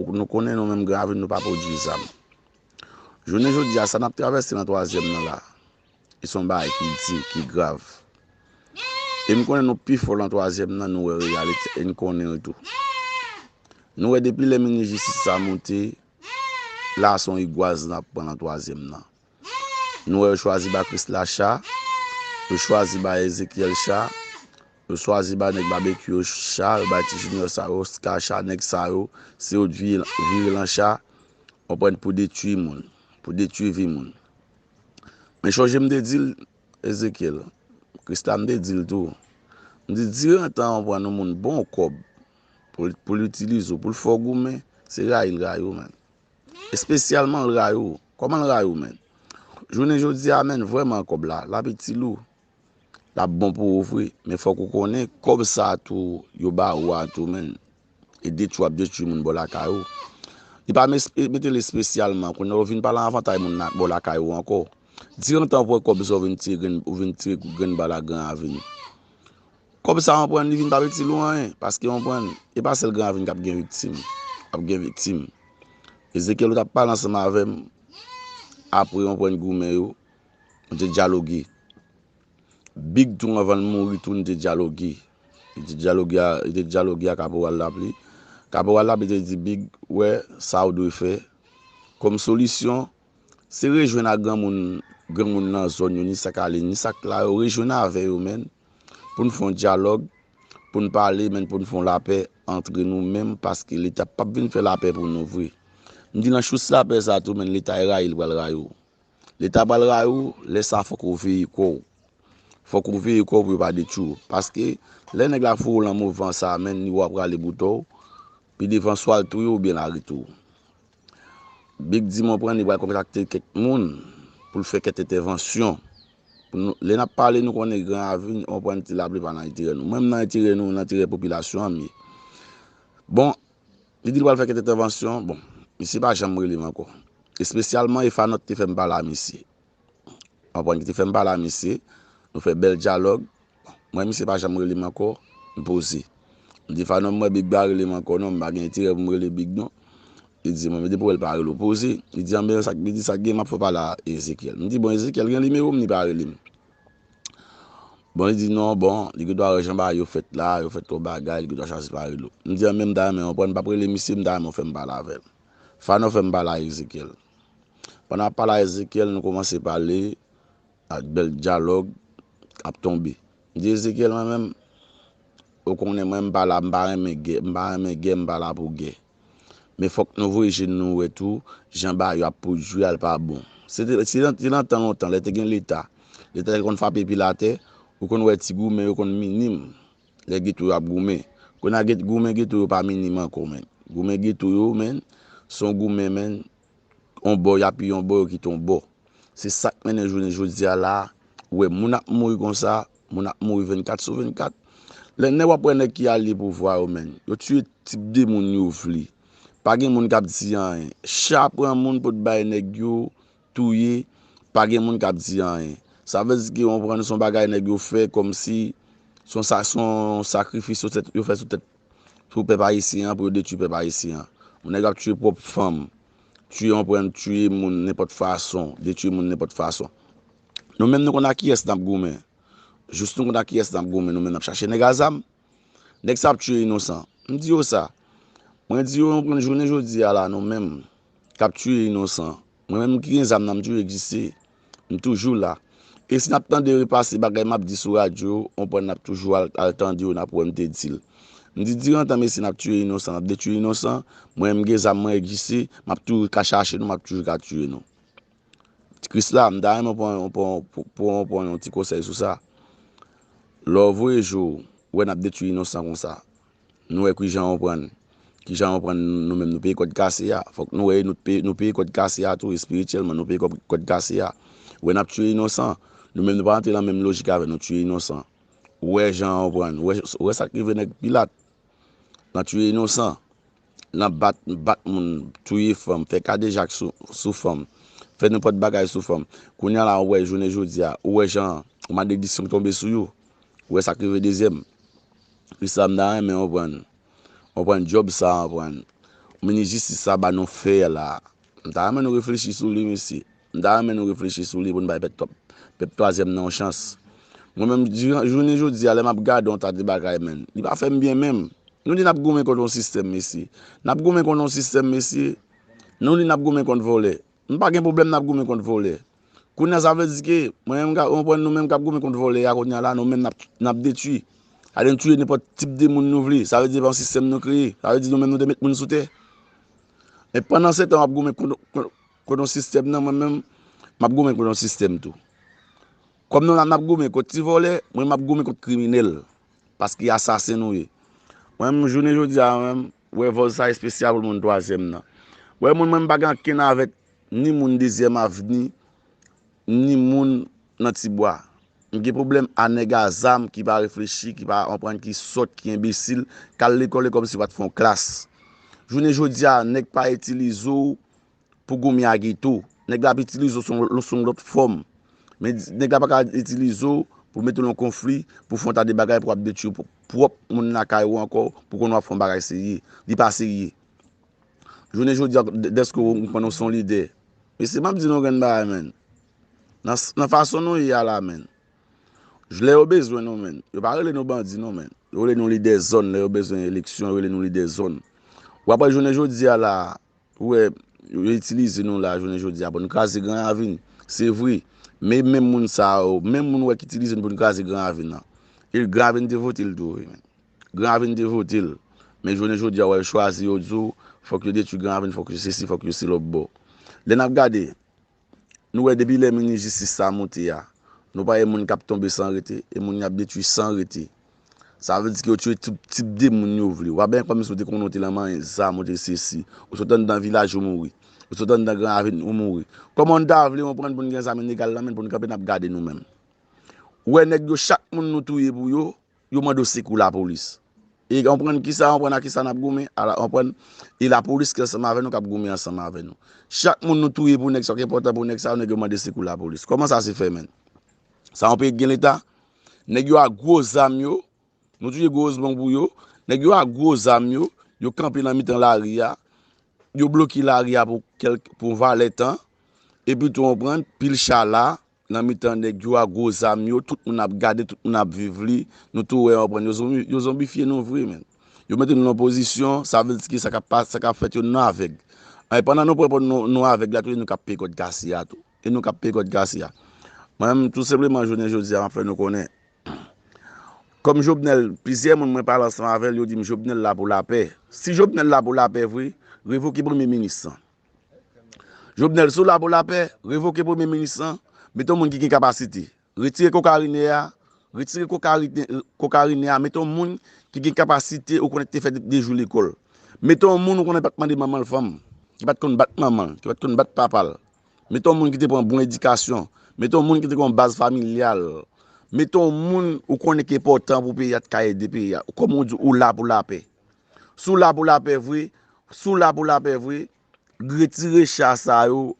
Nou konnen nou menm Gravin nou pa pwodui zam. Jounen jodi a sa n ap travèse nan twazyèm nan la, se yon bagay ki di, ki grav. E m konnen nou pi fò nan twazyèm nan, nou wè reyalite e n konnen l tou. Nou wè depi lè minis jistis sa moute, la se yon rigwaz n ap pran nan twazyèm nan. Nou wè yo chwazi ba Krisla cha, yo chwazi ba Ezekyèl cha, yo chwazi ba nèg Babekyou yo cha, yo bay ti Jinyò sa yo Oska cha, nèg sa yo, se yo t vire lan cha, konprann, pou detui moun, pou detui vi moun. Men chonje m te di l, Ezekyèl, Krisla m te di l tou, m di, diran tan an w pran yon moun bon kòb pou l itilize w, pou l fè w goumen, se rayi l rayi w menm. Espesyalman l rayi w. Kòman l rayi w menn? Jounen jodi a menn, vrèman kòb la, l ap itil ou. L ap bon pou ou vre. Men fòk ou konnen, kòb sa a tou yo ba ou a tou menn, e detwi w ap detwi moun bò lakay ou. Li pa mete l espesyalman. Kounye a ou vin pa lan avantay moun nan bò lakay ou ankò. Dirantan ou pran kòb sa a ou vin tire grenn bal ak gran avni. Kòb sa konprann li vin pap itil ou anyen paske konprann e pa sèl gran avni kap gen viktim ap gen viktim Ezekyèl ou tap pale ansanm avèm apre konprann goumen yo nou te dyaloge Big tou anvanl mouri tou nou te dyaloge li te dyaloge li te dyaloge a kaporal lapli kaporal lapli te di Big wè sa ou dwe fè kòm solisyon se rejwenn a granmoun granmoun nan zòn yo ni sa kalin ni sa k la yo rejwenn avè yo menn. pou n fè yon dyalòg, pou n pale men pou n fè yon lapè antre nou menm paske leta pap vin fè lapè pou nou vre. M di nan chous lapè sa tou men leta rayi l pral rayi w. Leta pral rayi w, lè sa fòk ou veye kò w. Fòk ou veye kò w pou yo pa detwi w. Paske lè nèg la foure w lan mouvan sa menn li wè w ap rale boutò w, pi devan swa l touye w oubyen l arete w. Big di mwen pran li pral kontakte kèk moun pou l fè kèk entèvansyon pou nou lè n ap pale nou konnen gran avni nou konprann ti lapli pa nan enterè nou mwen m nan enterè nou nan enterè popilasyon an m ye bon li di l pral fè kèk entèvansyon bon misye pa janm rele m ankò espesyalman e fanòt te fè m pale a misye. Antoine ki te fè m pale a misye. Nou fè bèl dyalòg. M wè misye pa janm rele m ankò. M poze. M di Fanon m wè Big pa rele m ankò non. M pa gen enterè pou m rele Big non. Li di mwen men depi w wè l pa rele w. Poze. Li di anben sa k li di sa k gen m ap fè w pale a Ezekyèl. M di bon Ezekyèl gen nimewo m li pa rele m. Bon li di non bon li gen dwa wè jan bagay yo fèt la. Yo fè twòp bagay li gen dwa chwazi pa rele w. M di anben m ta renmen Antoine pa p rele misye m ta renmen w fè m pale avè l. Fanon fè m pale a Ezekyèl. Pandan ap pale a Ezekyèl, nou koumanse pale ak bèl dyalòg ap tonbe. M di Ezekyèl mwen menm, ou konnen mwen m pa la, m pa renmen gè, m pa renmen gè, m pa la pou gè. Men fòk nou voye je nou wè tou jan bagay yo ap pwodui a l pa bon. Se te, se te nan tan lontan lè te gen leta, leta te konn frape pil atè, ou konn wè ti goumen yo konn minim. Lè getou yo ap goumen. Kona get goumen getou yo pa minim ankò menn. Goumen getou yo menn son goumen menn on bò yap yon bò yo kite on bò. Se sak mennen jounen jodia la ou wè moun ap mouri konsa, moun ap mouri 24 sou 24. Lè nèg wap wè nèg ki alye pouvwa yo menn, yo tiye tip de moun yo vle. Pa gen moun kap di anyen. Cha pran moun pot bay nèg yo touye pa gen moun kap di anyen sa vle di ke yon pran son bagay nèg yo fè kòmsi son sa son sakrifis yo tèt yo fè sou tèt sou pèp ayisyen an pou yo detwi pèp ayisyen an yon nèg ap tiye pwòp fanm tiye yon pran tiye moun nenpòt fason detwi moun nenpòt fason nou menm nou konn a kiyès nap goumen jis nou konn a kiyès nap goumen nou menm nap chache nèg a zam. Nèg sa ap tiye inosan. M di yo sa. Mwen di yo konn jounen jodi a la nou menm k ap tiye inosan. Mwen menm ki gen zam nan m toujou egziste. M toujou la. E si n ap tande repase bagay m ap di sou radyo, on pwen n ap toujou al tande yo n ap wè m te di l. M di diran tan mesye n ap tiye inosan, n ap detwi inosan, mwen menm m gen zam mwen egziste, m ap toujou ka chache nou, m ap toujou ka tiye nou. Krisla m ta renmen pou ou pran yon ti konsèy sou sa lè w voye jou wè n ap detwi inosan konsa nou wè kijan ou pran kijan ou pran nou menm nou peye kòd kase a fòk nou wè nou peye kòd kase a tou espirityèlman nou peye kòd kase a wè n ap tiye inosan nou menm nou pa rantre nan menm lojik avè nou tiye inosan wè jan ou pran wè sa k rive nèg pilat nan tiye inosan. nan bat, bat moun, touye fanm, fè kadejak sou fanm, fè nenpòt bagay sou fanm. Kounya la ou wè jounen jodi a, ou wè jan maledisyon tonbe sou yo, ou wè sa k rive Dezyèm. Se sa m ta renmen yo pran, yo pran djòb sa a, pran minis jistis sa a ba nou fè la a. M ta renmen nou reflechi sou li mesye. M ta renmen nou reflechi sou li pou n bay pèp twòp pèp twazyèm nan yon chans. Mwen menm jounen jodi a lè m ap gade yon ta de bagay menn li pa fè m byen menm. Nou di n ap goumen kont yon sistèm mesye. N ap goumen kont yon sistèm mesye. Nou di n ap goumen kont vòlè. M pa gen pwoblèm n ap goumen kont vòlè. Kounye a sa vle di ke mwen menm mwen pran nou menm k ap goumen kont vòlè a kounye a la nou menm n ap detui. Sa vle di n touye nenpòt tip de moun nou vle. Sa vle di se pa yon sistèm nou kreye. Sa vle di nou menm nou te met moun sou tè. Men pandansetan w ap goumen kont yon. Konon sistèm nan mwen menm map goumen konon sistèm tou kòm nou la map goumen kont ti vòlè mwen map goumen kont kriminèl paske asasen nou ye mwen menm jounen jodi a mwen wè vòz sa espesyal pou moun twazyèm nan wè moun mwen pa gen ankenn avèk ni moun dezyèm avni ni moun nan ti bwa m gen pwoblèm a nèg a zam ki pa reflechi ki pa anprann ki sòt ki enbesil kal lekòl e kòmsi pat fon klas jounen jodi a nèg pa itilize w pou goumen ak geto. Nèg la ap itilize w sou yon lòt fòm. Men nèg la pa ka itilize w pou mete w nan yon konfli, pou fè yon ta de bagay pou ap detwi pwòp moun lakay ou ankò pou konnen w ap fè yon bagay serye. Li pa serye. Jounen jodi a dèske ou konnen w se yon lidè. Mesye m ap di nou yon grenn bagay menn. Nan fason nou ye a la menn. Lè yo bezwen nou menn. Yo pa rele nou bandi non menn. Yo rele nou lidè zòn lè yo bezwen eleksyon yo rele nou lidè zòn. Ou ap wè jounen jodi a la. Ou wè, yo itilize nou la jounen jodi a pou n kraze Gran Ravin. Se vre. Men menm moun sa yo, menm moun ou wè ki itilize n pou n kraze Gran Ravin lan, e Gran Ravin te vote l tou. Gran Ravin te vote l. Men jounen jodi a, ou wè yo chwazi, yo di w, fòk yo detwi Gran Ravin, fòk yo sesi, fòk yo selòbò. Lè n ap gade, Nou wè depi lè minis jistis sa moute a, nou pa e moun kap tonbe san rete, e moun yap detwi san rete. Sa vle di ke yo tiye tout tip de moun yo vle. Wap byen kòmsi ou te konnen ou te lan manyen zam, ou te sesi. Ou sot anndan vilaj ou mouri. Ou sot anndan gran aveni ou mouri. Kòman nou ta vle yon prann pou nou gen zam ilegal lan men pou nou kanpe nap gade nou menm. Ou wè nèg yo chak moun nou touye pou yo, Yo mande w sekou lapolis. E anprann ki sa, anprann a ki sa n ap goumen, a la anprann, e lapolis ki ansanm avè nou k ap goumen ansanm avè nou. Chak moun nou touye pou nèg sa, k enpòtan pou nèg sa yo, nèg yo mande sekou lapolis. Kòman sa se fè menn? Sa yon peyi k gen leta? Nèg yo ak gwo zam yo, nou touye gwo ozman pou yo, nèg yo ak gwo zam yo, yo kanpe nan mitan lari a, yo bloke lari a pou kèlk, pou yon valè tan, epi tou anprann, pil cha la, Nan mitan nèg yo a gwo zam yo tout moun ap gade tout moun ap viv li nou tou wè anprann yo zonbifye nou vre menn yo mete nou nan pozisyon sa vle di ki sa kap pase sa kap fèt yo nou avèg an e pandan nou pran pran nou avèg la tou e nou kap peye kòd kase a tou e nou kap peye kòd kase a mwen menm tou senpleman jounen jodi a map fè nou konnen kòm Jovenel plizyè moun mwen pale ansanm avèl yo dim Jovenel la pou lapè si Jovenel la pou lapè vre revoke premye minis lan. Jovenel si w la pou lapè, revoke premye minis lan, mete yon moun ki gen kapasite. Retire kokarine a, retire kokarine a, mete yon moun ki gen kapasite ou konnen ki te fè de jou lekòl. Mete yon moun ou konnen pa t mande manman l fanm, ki pa t konn bat manman l, ki pa t konn bat papa l. Mete yon moun ki te pran bon edikasyon, mete yon moun ki te gen yon baz familyal, mete yon moun ou konnen ki enpòtan pou peyi a t ka ede peyi a. Kòm ou di ou la pou lapè. Si w la pou lapè vre, si w la pou lapè vre, retire cha sa yo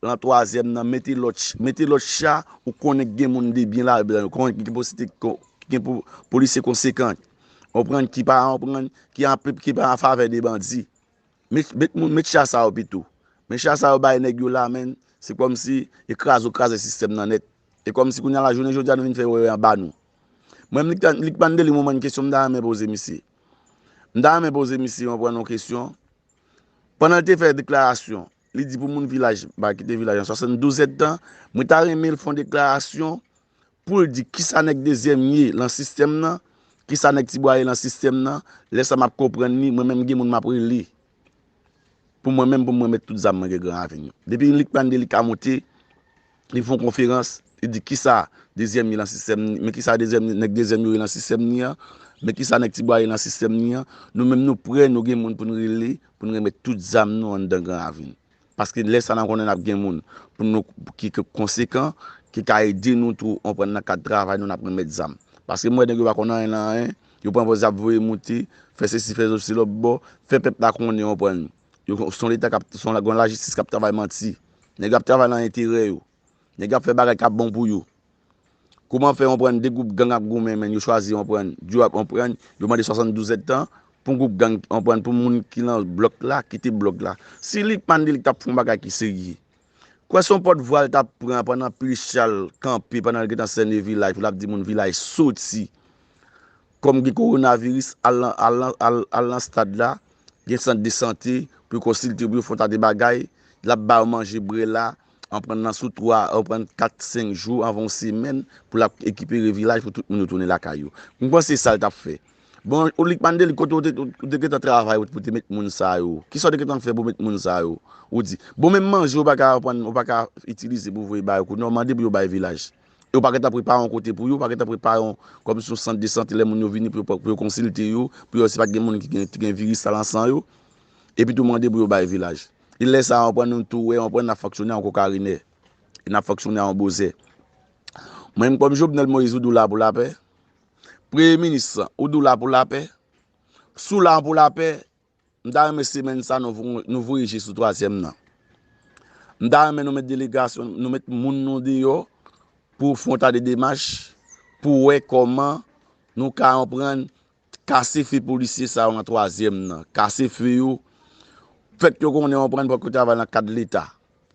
lan twazyèm nan, mete lòt, mete lòt cha ou konnen k gen moun de byen ladan yo, konnen ki posite, ki gen pou polisye konsekan, konprann, ki pa anprann, ki an, ki pa an favè de bandi. Met, met moun, met cha sa yo pito. Men cha sa yo bay nèg yo la menn, se kòm si e kraze yo kraze sistèm nan nèt. E kòm si kounye a la jounen jodi a nou vin fè wè wè anba nou. Mwen menm li k ta, li k mande li mwen menm kesyon m ta renmen poze misye. M ta renmen poze misye yon pran yon kesyon. Pandan l te fè deklarasyon, li di pou moun vilaj ba kite vilaj an 72 èdtan. Mwen ta renmen l fè yon deklarasyon pou l di kisa nèg dezyèm ye lan sistèm nan, kisa nèg tibwa ye lan sistèm nan. Lè sa m ap konprann li, mwen menm gen moun m ap rele. Pou mwen menm pou mwen met tout zam mwen gen gran avin yo. Depi yon lik pande li ka monte, li fon konferans, li di kisa dezyèm ye lan sistèm ni, men kisa dezyèm ni, nèg dezyèm yo ye lan sistèm ni an, men kisa nèg ti bwa ye lan sistèm ni an, nou menm nou prè nou gen moun pou nou rele pou nou remèt tout zam nou anndan gran avin. Paske lè sa n ap konnen n ap gen moun pou nou ki konsekan, ki ka ede nou tou konprann nan kad travay nou n ap renmèt zam. Paske m wè nèg yo pa konn anyen nan anyen, yo pran vòz y ap voye moute, fè sesi fè zosi lòtbò, fè pèp la konnen yo pran yo. Yo s on leta k ap, s on lajistis k ap travay manti. Nèg yo ap travay nan enterè yo. Nèg yo ap fè bagay k ap bon pou yo. Kouman fè yon prann 2 gwoup gang ap goumen men yo chwazi yon prann duo ap yon prann yo mande 72 zèd tan pou gwoup gang yon prann pou moun ki lan blòk la kite blòk la si li pman de li tap fon bagay ki serye kwè son pòt vwa li tap pran pandan pi chal kanpe pandan li gentan sène vilaj pou lap di moun vilaj soti. Kòm gen kowonaviris, al nan stad la, gen sant de sante pou yo konsilte, pou yo fè yon tas de bagay, l ap ba yo manje BRELA, an pran nan sou 3, an pran 4, 5 jou, anvan yon semèn, pou l ap ekipere vilaj pou tout moun yo tounen lakay yo. M panse se sa l t ap fè. Bon, Olik Mandeli, kote ou te gen tan travay ou pou te met moun sa yo? Ki sa ou te gen tan fè pou met moun sa yo? Ou di, bon menm manje ou pa ka itilize pou voye ba yo kou non, mande pou yo bay vilaj. e yo pa gentan prepare yon kote pou yo, pa gentan prepare yon, kòmsi yon sant de sante lè moun yo vini pou yo, pou yo konsilte yo, pou yo wè si pa t gen moun ki gen, ki gen viris sa lan san yo, epi tou mande pou yo bay vilaj. E lè sa a, anpren nou tou wè, anpren n ap fonksyone an kokarinè, e n ap fonksyone an bozè. Mwen menm kòm Jovenel Moïse, ou di w la pou lapè? Premye minis, ou di w la pou lapè? Si w la pou lapè, M ta renmen semèn sa nou voye je sou twazyèm nan. M ta renmen nou met delegasyon, nou met moun nou deyò pou fon ta de demach pou wè kòman nou ka anprann kase fe polisye sa yo nan twazyèm nan. Kase fe yo, fèt yo konnen anprann pou yo travay nan kad leta.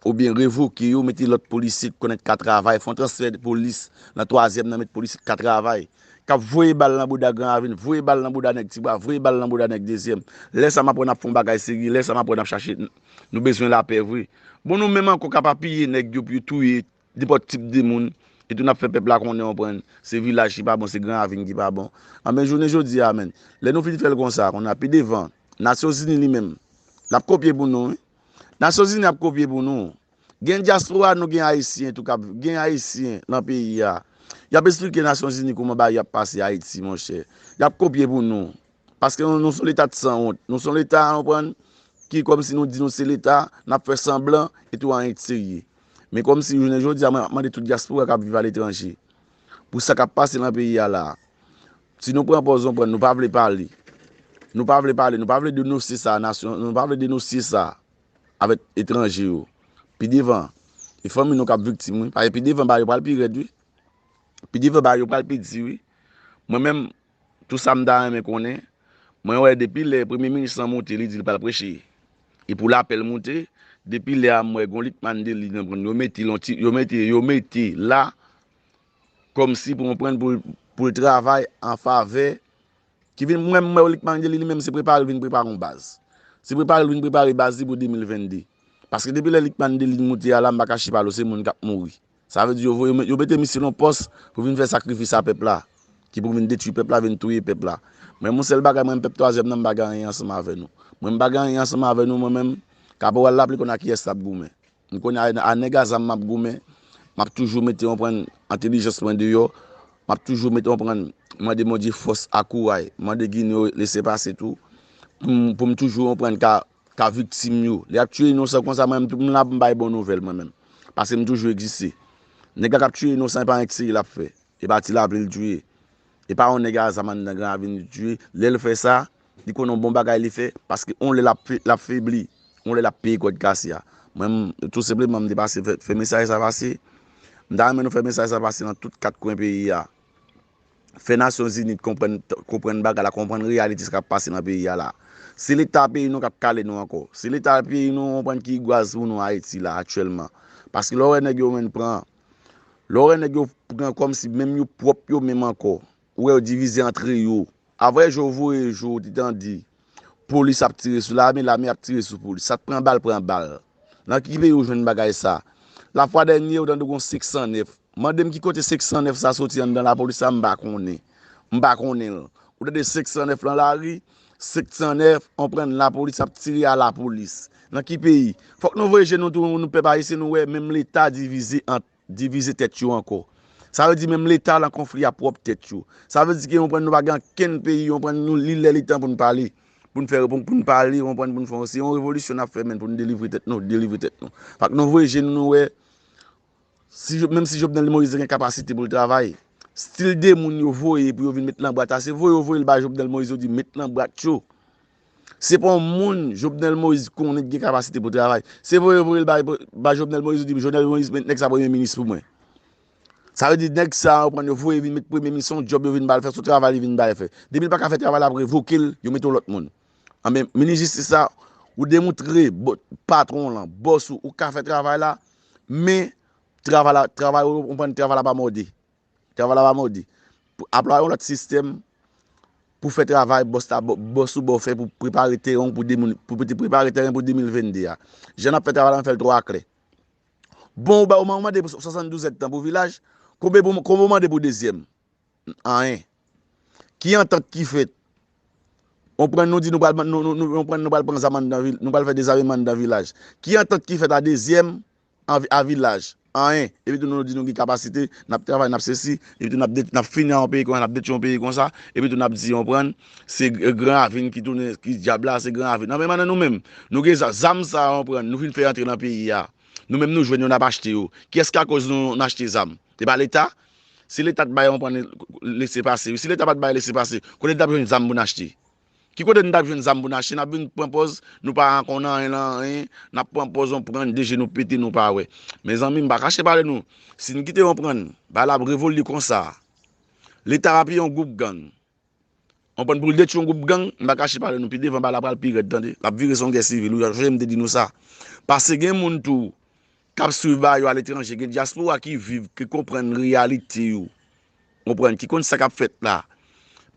Oubyen revoke yo mete lòt polisye ki konnen ka travay, fon transfè de polis nan twazyèm nan met polisye ki ka travay, kap voye bal nan bouda gran ravin, voye bal nan bouda nèg ti bwa, voye bal nan bouda nèg dezyèm. Lè sa map wè nap fon bagay serye, lè sa map wè nap chache nou bezwen lapè vre. Bon nou menm ankò kap apiye nèg yo pou yo touye Nenpòt tip de moun, e tou n ap fè pèp la konnen, konprann, se vilaj ki pa bon, se Gran Ravin ki pa bon. Anben, jounen jodi a menn, lè nou fin fè l konsa, kounye a, pi devan, Nasyonzini li menm, l ap kopye pou nou wi. Nasyonzini ap kopye pou nou. Gen dyaspora nou, gen Ayisyen tou k ap, gen Ayisyen lan peyi a, y ap esplike Nasyonzini kouman bagay yo ap pase Ayiti monchè. Y ap kopye pou nou. Paske nou s on Leta de sanwont. Nou s on Leta, konprann, ki kòmsi nou di nou se Leta, n ap fè sanblan, e tou anyen k serye. Men kòmsi jounen jodi a mwen ap mande tout dyaspora k ap viv aletranje pou sa k ap pase nan peyi a la a, si nou pran pòz nou pran nou pa vle pale, nou pa vle pale, nou pa vle denosye sa a nasyon, nou pa vle denosye sa a avèk etranje yo, pi devan e fanmi nou k ap viktim wi, paske pi devan bagay yo pral pi rèd wi, pi devan bagay yo pral pi di wi, mwen menm. Tout sa m ta renmen konnen, mwen wè depi lè premye minis lan moute li di li pral preche e pou lapèl moute, depi lè a m wè gon Lickmann Delly nan prann yo mete l on ti yo mete yo mete la kòmsi pou konprann pou l pou l travay an favè ki vin mwen m wè Lickmann Delly li menm se prepare l vin prepare yon baz se prepare l vin prepare baz li pou 2022 paske depi lè Lickmann Delly moute a la m pa kache pa l ou se moun k ap mouri. Sa vle di yo voye yo mete misye nan pòs pou vin fè sakrifis a pèp la ki pou vin detwi pèp la vin touye pèp la men yon sèl bagay mwen menm pèp twazyèm nan m pa gen anyen ansanm avè nou mwen m pa gen anyen ansanm avè nou mwen menm kaporal la pli konn a kiyès lap goumen m konn a nèg a zam map goumen map toujou mete konprann entelijans mwen deyò map toujou mete konprann mande Bondye fòs ak kouray mande ginen yo lese pase tou poum poum toujou konprann ka ka viktim yo. Lè y ap tiye inosan konsa, mwen menm tou m la pou m bay bon nouvèl mwen menm. Pase m toujou egziste. Nèg la k ap tiye inosan e pa yon ti tire l ap fè. E pa ti lapli l tiye. E pa yon nèg azam anndan Gran Ravin li tiye. Lè l fè sa, li konnen yon bon bagay li fè. Paske yon lè l ap febli. Yon lè l ap peye kòd kase a. Mwen m, tou senpleman m te pase fè mesaj sa pase. M ta renmen nou fè mesaj sa pase nan tout kat kwen peyi a. Fè nasyon zini t konprann konprann bagay la konprann reyalite sa kap pase nan peyi a la se leta peyi nou kap kale nou ankò se leta peyi nou konprann ki gwaz pou nou ayiti la aktyèlman paske lè w wè nèg yo menn pran lè w wè nèg yo pran kòmsi menm yo pwòp yo menm ankò ou wè yo divize antre yo aprè jou voye jou ou te tande Polis ap tire sou lame, lame ap tire sou polis. Sa k pran bal, pran bal. Nan ki peyi ou jwenn bagay sa? Lafwa dènye ou tande gon 509. Mande m ki kote 509 sa soti anndan lapolis la, m pa konnen. M pa konnen l. Ou tande 509 lan lari, 709, konprann, lapolis ap tire a lapolis. Nan ki peyi? Fòk nou voye je nou tou nou pèp ayisyen nou wè menm leta divize ant. Divize tèt yo ankò. Sa vle di menm leta lan konfli a pwòp tèt yo. Sa vle di ke konprann nou pa gen ankenn peyi konprann nou li lè li tan pou nou pale. Pou nou fè pou nou pale konprann pou nou fè yon se yon revolisyon nap fè menn pou nou delivre tèt nou delivre tèt nou. Fak nou vwe je nou nou wè si jo menm si Jovenel Moïse te gen kapasite pou l travay stil de moun yo voye pou yo vin met lan bwat la se voye yo voye l bay Jovenel Moïse yo di met lan bwat yo. Se pa yon moun Jovenel Moïse konnen ki gen kapasite pou travay. Se voye voye l bay Jovenel Moïse ou di Jovenel Moïse met nèg sa premye minis pou mwen. Sa vle di nèg sa yo pran yo voye vin met premye minis se yon djòb yo vin ba l fè se yon travay li vin ba l fè. Depi l pa ka fè travay la yo ap revoke l yo mete yon lòt moun. Anben minis jistis la ou demoutre patwon w lan, bòs ou, ou ka fè travay la men travay la travay ou konprann travay la pa mòde. Travay la pa modi. Aplwa yon lòt sistèm pou fè travay bòs la bò sou bò fè pou prepare teren pou 2022 a. Jan n ap fè travay la, n fè l twò aklè. Bon ou bay ou mande pou 72 èdtan pou vilaj, konbe ou mande pou dezyèm? Anyen. Ki antant ki fèt? On pran nou di nou pral pran zam anndan, nou pral fè dezameman anndan vilaj. Ki antant ki fèt a dezyèm? anvi a vilaj anyen epi tou nou di nou gen kapasite nap travay nap sesi epi tou nap de nap fini ak yon peyi konsa nap detwi yon peyi konsa epi tou nap di yon prann se gran ravin ki tounen ki dyab la se gran ravin anben mandan nou menm nou gen zam zam sa yon prann nou fin fè antre nan peyi a nou menm nou jwenn yo nap achte yo kiyès ki akoz nou nou achte zam se pa leta si leta t bay yon prann lese pase wi si leta pat bay lese pase kote n tap jwenn zam pou n achte. Ki kote nou tap jwenn zam poun achte nap vin pran pòz nou pa konn anyen nan anyen nap pran pòz yon prann de je nou pete nou pa wè mezanmi mpa kache pale nou sin kite yon prann bay la ap revolde konsa leta apiye yon gwoup gang yon prann poul detwi yon gwoup gang mpa kache pale nou pi devan bay la pral pi rèd tande lap vire son gè sivil wi sonje mte di nou sa pase gen moun tou kap swiv bagay yo aletranje gen dyaspora ki viv ki konprann reyalite yo konprann ki konn sakap fèt la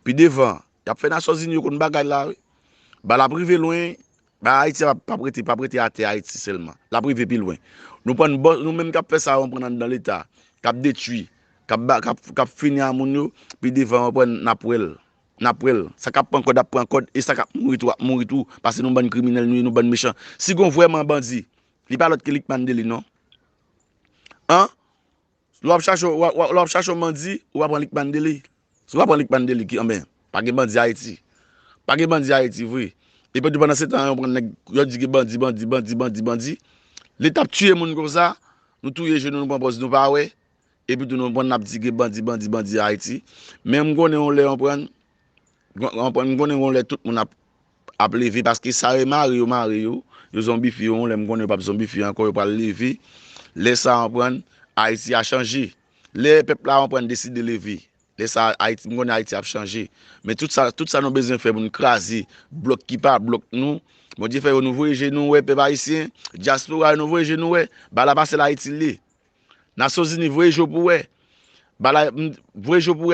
pi devan Yap fè nasyon zini yo konn bagay la wi ba lap rive lwen ba ayiti a pap rete pap rete atè ayiti sèlman lap rive pi lwen nou prann bò nou menm kap fè sa yo prann anndan leta kap detwi kap ba kap kap fini a moun yo pi devan yo prann nap wèl nap wèl sa kap pran kòd ap pran kòd e sa kap mouri tou ap mouri tou paske nou bann kriminèl nou ye nou bann mechan si gon vrèman bandi li pa lòt ke lickman dely non an. Lè wap chache yon lè wap chache yon bandi ou pa pran li k pan deli si ou pa pran li k pan deli ki anben pa gen bandi ayiti pa gen bandi ayiti vre epi di pandan se tan yon pran nèg yòt di gen bandi bandi bandi bandi bandi leta ap tiye moun konsa nou touye je nou nou pran pòz nou pa wè epi tou nou pran nap di gen bandi bandi bandi ayiti menm konnen yon lè yon pran Konprann m konnen yon lè tout moun ap leve paske sa yo mare yo mare yo yo zonbifye yo yon lè m konnen yo pap zonbifye ankò yo pral leve lè sa konprann ayiti a chanje lè pèp la konprann deside leve lè sa ayiti m konnen ayiti ap chanje men tout sa tout sa nou bezwen fè pou nou kraze blòk ki pa blòk nou bondye fè yo nou voye je nou wè pèp ayisyen dyaspora yo nou voye je nou wè ba la pa sèl ayiti l ye nasyonzini voye je w pou wè ba la voye je w pou wè.